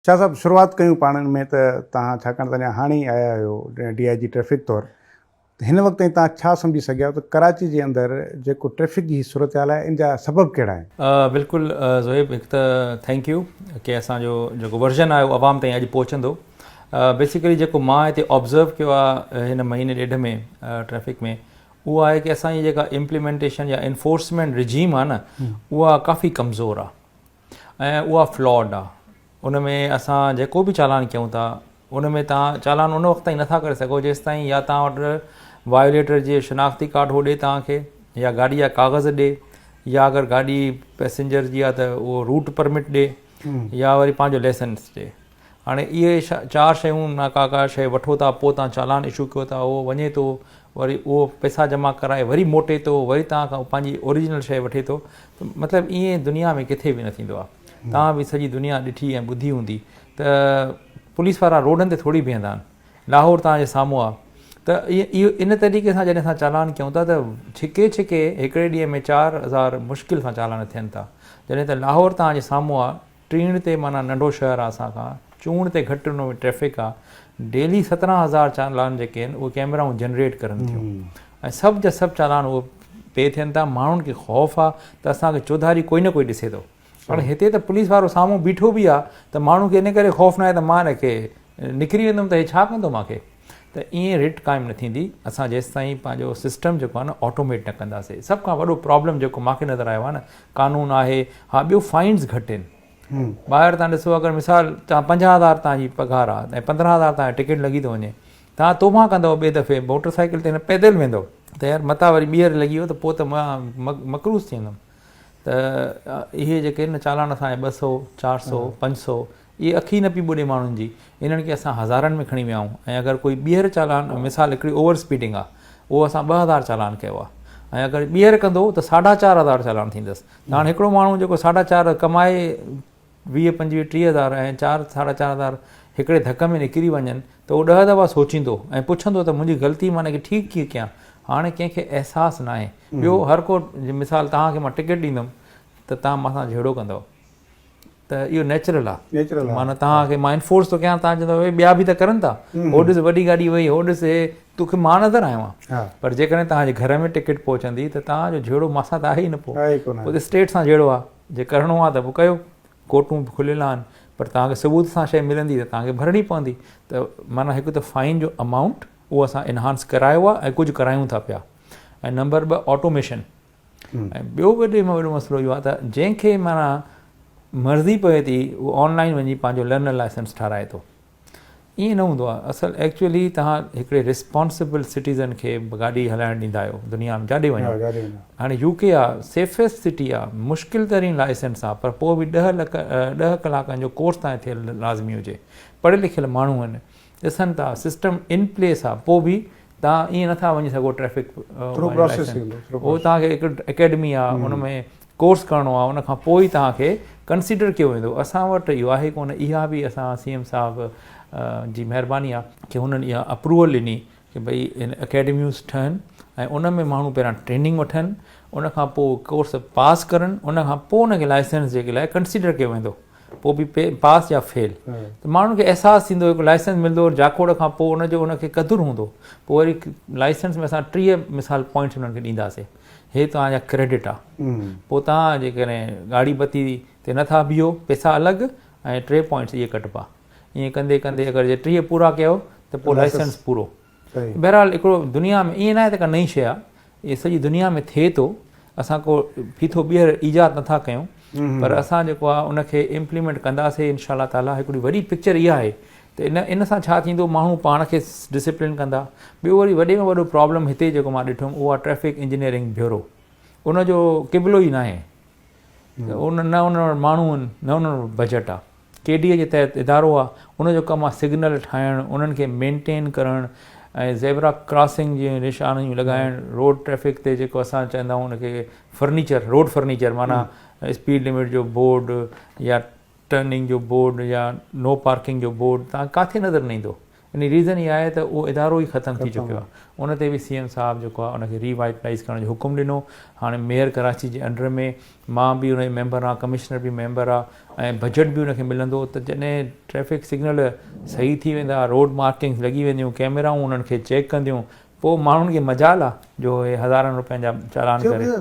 شاهه صاحب شروعات ڪيون پاڻ ۾ ته توهان ڇاڪاڻ ته اڃا هاڻي ئي آيا آهيو ڊي آء جي ٽريفڪ طور ته هن وقت تائين توهان ڇا سمجهي سگهيا آهيو ته ڪراچي جي اندر جيڪو ٽريفڪ جي هي صورتحال آهي ان جا سبب ڪهڙا آهن؟ بلڪل زوهيب هڪ ته ٿينڪ يو ڪي اسان جو جيڪو ورزن آهي اهو عوام تائين اڄ پهچندو بيسيڪلي جيڪو مان هتي آبزرو ڪيو آهي هن مهيني ڏيڍ ۾ ٽريفڪ ۾ اهو آهي ڪي اسان جي جيڪا امپليمينٽيشن يا انفورسمينٽ رجيم آهي نه اها ڪافي ڪمزور آهي ۽ اها فلاڊ آ ان ۾ اسان جيڪو به چالان ڪيون ٿا ان ۾ توهان چالان ان وقت تائين نٿا ڪري سگهو جيستائين يا توهان وٽ وايوليٽر جي شناختي ڪارڊ هو ڏي توهان کي يا گاڏي جا ڪاغذ ڏي يا اگر گاڏي پيسنجر جي آ ته اهو روٽ پرمٽ ڏي يا وري پنهنجو ليسنس ڏي هاڻي اهي چار شيون نا ڪا ڪا شيء وٺو ٿا پوء تان چالان اشو ڪيو ٿا اهو وڃي ٿو وري اهو پئسا جمع ڪرائي وري موٽي ٿو وري تان کان پنهنجي اوريجنل شيء وٺي ٿو ته مطلب ايئن دنيا ۾ ڪٿي به نه ٿيندو آهي تان به سڄي دنيا ڏٺي ۽ ٻڌي هوندي ته پوليس وارا روڊن تي ٿوري بيهندا آهن لاهور تان جي سامهون آهي ته اهو ان طريقي سان جڏهن اسان چالان ڪيون ٿا ته ڇڪي ڇڪي هڪڙي ڏينهن ۾ چار هزار مشڪل سان چالان ٿين ٿا جڏهن ته لاهور تان جي سامهون آهي ٽيڻ تي معنيٰ ننڍو شهر آ اسان کان چونڙ تي گهٽ ان ۾ ٽريفڪ آ ڊيلي سترهن هزار چالان جيڪي آهن اهي ڪيمرائون جنريٽ ڪرن ٿيون ۽ سڀ جا سڀ چالان اهي پي ٿين ٿا ماڻهن کي خوف آ ته اسان کي چوڌاري ڪوئي نه ڪوئي ڏسي ٿو هاڻي هتي ته پوليس وارو سامهون بيٺو به آ ته ماڻهو کي ان ڪري خوف ناهي ته مان ان کي نڪري ويندم ته هي ڇا ڪندو مان کي ته ائين رٽ قائم نه ٿيندي اسان جيستائين پنهنجو سسٽم جيڪو آهي نه آٽوميٽ نه ڪنداسي سڀ کان وڏو پرابلم جيڪو مان کي نظر آيو آهي نه قانون آهي ها ٻيو فائنز گهٽ آهن ٻاهر تان ڏسو اگر مثال تان پنجاهه هزار تان جي پگهار آهي ۽ پندرهن هزار تان ٽڪيٽ لڳي ٿو وڃي تان توبان ڪندو ٻي دفعي موٽر سائيڪل تي پيدل ويندو ته يار متا وري ٻيهر لڳي ويو ته پوء ته مقروض ٿي ويندم ته اهي جيڪي چالان اسان ٻه سو چار سو پنج سو اهي اکي نه پئي ٻڏي ماڻهن جي انهن کي اسان هزارن ۾ کڻي ويا آهيون ۽ اگر ڪوئي ٻيهر چالان مثال هڪڙي اوور اسپيڊنگ آ اهو اسان ٻه هزار چالان ڪيو آ ۽ اگر ٻيهر ڪندو ته ساڍا چار هزار چالان ٿيندس ته هاڻ هڪڙو ماڻهو جيڪو ساڍا چار ڪمائي ويهه پنجويهه ٽيهه هزار ۽ چار ساڍا چار هزار هڪڙي ڌڪ ۾ نڪري وڃن ته اهو ڏهه دفعا سوچيندو ۽ پڇندو ته منهنجي غلطي مان انکي ٺيڪ ڪيئن ڪيان هاڻي ڪنهن کي احساس ناهي ٻيو هر ڪو مثال توهان کي مان ٽڪيٽ ڏيندم ته توهان مان سان جهيڙو ڪندؤ ته اهو نيچرل آ معنيٰ توهان کي مان انفورس ٿو ڪيان توهان چوندو اهي ٻيا به ته ڪرن ٿا هو ڏس وڏي گاڏي وئي هو ڏس هي توکي مان نظر آيو آهيان پر جيڪڏهن توهان جي گهر ۾ ٽڪيٽ پهچندي ته توهان جو جهيڙو مان سان ته آهي ئي نه پوء پوء ته اسٽيٽ سان جهيڙو آ جي ڪرڻو آ ته پوء ڪيو ڪورٽون به کليل آهن پر توهان کي ثبوت سان شيء ملندي ته توهان کي ڀرڻي پوندي ته معنيٰ هڪ ته فائين جو امائونٽ اهو اسان انهانس ڪرايو آ ۽ ڪجهه ڪرايون ٿا پيا ۽ نمبر ٻه آٽوميشن ۽ ٻيو وڏي ۾ وڏو مسئلو اهو آهي ته جنهن کي معنيٰ مرضي پوي ٿي اهو آن لائن وڃي پنهنجو لرنر لائسنس ٺهرائي ٿو ائين نه هوندو آهي اصل ايڪچوئلي تهان هڪڙي ريسپانسبل سٽيزن کي گاڏي هلائڻ ڏيندا آهيو دنيا ۾ جاڏي وڃو هاڻي يو ڪي آهي سيفسٽ سٽي آهي مشڪل ترين لائسنس آهي پر پوء به ڏهه لک ڏهه ڪلاڪن جو ڪورس تائين ٿيل لازمي هجي پڙهيل لکيل ماڻهو آهن ڏسن ٿا سسٽم ان پليس آ پو به تان ايئن نٿا وڃي سگهو ٽريفڪ هو تان کي هڪ اڪيڊمي آ ان ۾ ڪورس ڪرڻو آ ان کان پوء تان کي ڪنسيڊر ڪيو ويندو اسان وٽ اهو آهي ڪونه اها به اسان سي ايم صاحب جي مهرباني آ ڪي هنن اها اپروول ڏني ڪي ڀئي ان اڪيڊميوز ٺهن ۽ ان ۾ ماڻهو پهريان ٽريننگ وٺن ان کان پوء ڪورس پاس ڪرن ان کان پوء ان کي لائسنس جي لاء ڪنسيڊر ڪيو ويندو پوء به پاس يا فيل ته ماڻهن کي احساس ٿيندو هڪ لائسنس ملندو جاکوڙ کان پوء ان جو ان کي قدر هوندو پوء وري لائسنس ۾ اسان ٽيهه مثال پوائنٽس انهن کي ڏينداسين هي توهان جا ڪريڊٽ آ پوء توهان جيڪڏهن ڳاڙهي بتي تي نٿا بيهو پئسا الڳ ۽ ٽي پوائنٽس اهي ڪٽبا ائين ڪندي ڪندي اگر جي ٽيهه پورا ڪيو ته پوء لائسنس پورو بهرحال هڪڙو دنيا ۾ ائين ناهي ته ڪا نئين شيء آهي اهي سڄي دنيا ۾ ٿئي ٿو اسان ڪو ڦيٿو ٻيهر ايجاد نٿا ڪيون پر اسان جيڪو آهي ان کي امپليمينٽ ڪنداسين ان شاء الله تعالي هڪڙي وڏي پڪچر اها آهي ته ان ان سان ڇا ٿيندو ماڻهو پاڻ کي ڊسپلين ڪندا ٻيو وري وڏي ۾ وڏو پرابلم هتي جيڪو مان ڏٺم اهو آهي ٽريفڪ انجنيئرنگ بيورو ان جو قبلو ئي ناهي ان نه انهن وٽ ماڻهو آهن نه انهن وٽ بجيٽ آهي ڪي ڊي اي جي تحت ادارو آهي ان جو ڪم آهي سگنل ٺاهڻ انهن کي مينٽين ڪرڻ ۽ زيبرا ڪراسنگ جي نشانيون لڳائڻ روڊ ٽريفڪ تي جيڪو اسان چوندا آهيون ان کي فرنيچر روڊ فرنيچر معنيٰ اسپيڊ لمٽ جو بورڊ يا ٽرننگ جو بورڊ يا نو پارڪنگ جو بورڊ تان ڪاٿي نظر نه ايندو يعني ريزن اها آهي ته اهو ادارو ئي ختم ٿي چڪو آهي ان تي به سي ايم صاحب جيڪو آهي ان کي ري وائٽلائيز ڪرڻ جو حڪم ڏنو هاڻي ميئر ڪراچي جي انڊر ۾ مان به ان جو ميمبر آهيان ڪمشنر به ميمبر آهي ۽ بجيٽ به ان کي ملندو ته جڏهن ٽريفڪ سگنل صحيح ٿي ويندا روڊ مارڪنگز لڳي وينديون ڪيميرائون انهن کي چيڪ ڪنديون پوء ماڻهن کي مجال آهي جو اهي هزارن روپين جا چالان ڪري